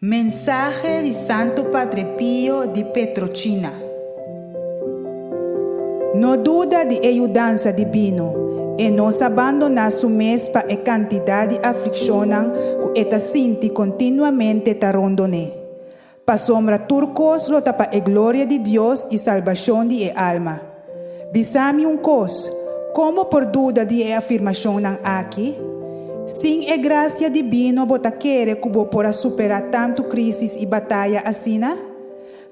Mensahe di Santo Padre Pio di Petrochina. No duda di e yudansa dibino, E no sa bandoná su mes pa e kantidat di aflikshonnan ku e ta sinti kontinuamente ta rondoné. Pasobra tur kos lo ta pa e gloria di Dios i salbashon di e alma. Bisa mi un kos, komo por duda di e afirmashonnan aki? Sin e grasia dibino bo ta kere ku bo por a superá tantu krísis i bataya asina?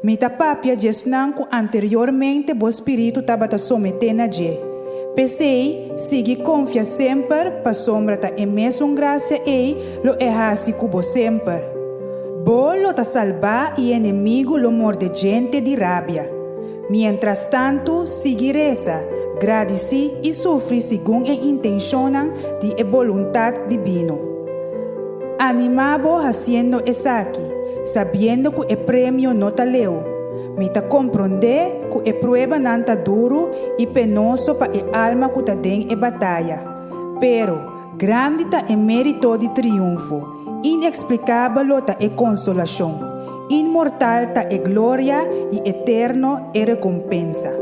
Mi ta papia dje esnan ku anteriormente bo spiritu tabata someté na dje. P'esei, sigui konfia semper pasobra ta e mesun grasia ei lo e hasi ku bo semper. Bo lo ta salbá i enemigu lo mordé djente di rabia. Mientrastantu, sigui resa, gradicí i sufri segun e intenshonnan di e boluntat dibino. Animá bo hasiendo esaki, sabiendo ku e premio no ta leu. Mi ta komprondé ku e pruebanan ta duru i penoso pa e alma ku ta den e bataya. Pero, grandi ta e mérito di triunfo. Inexplikabelo ta e konsolashon, inmortal ta e gloria i eterno e rekompensa.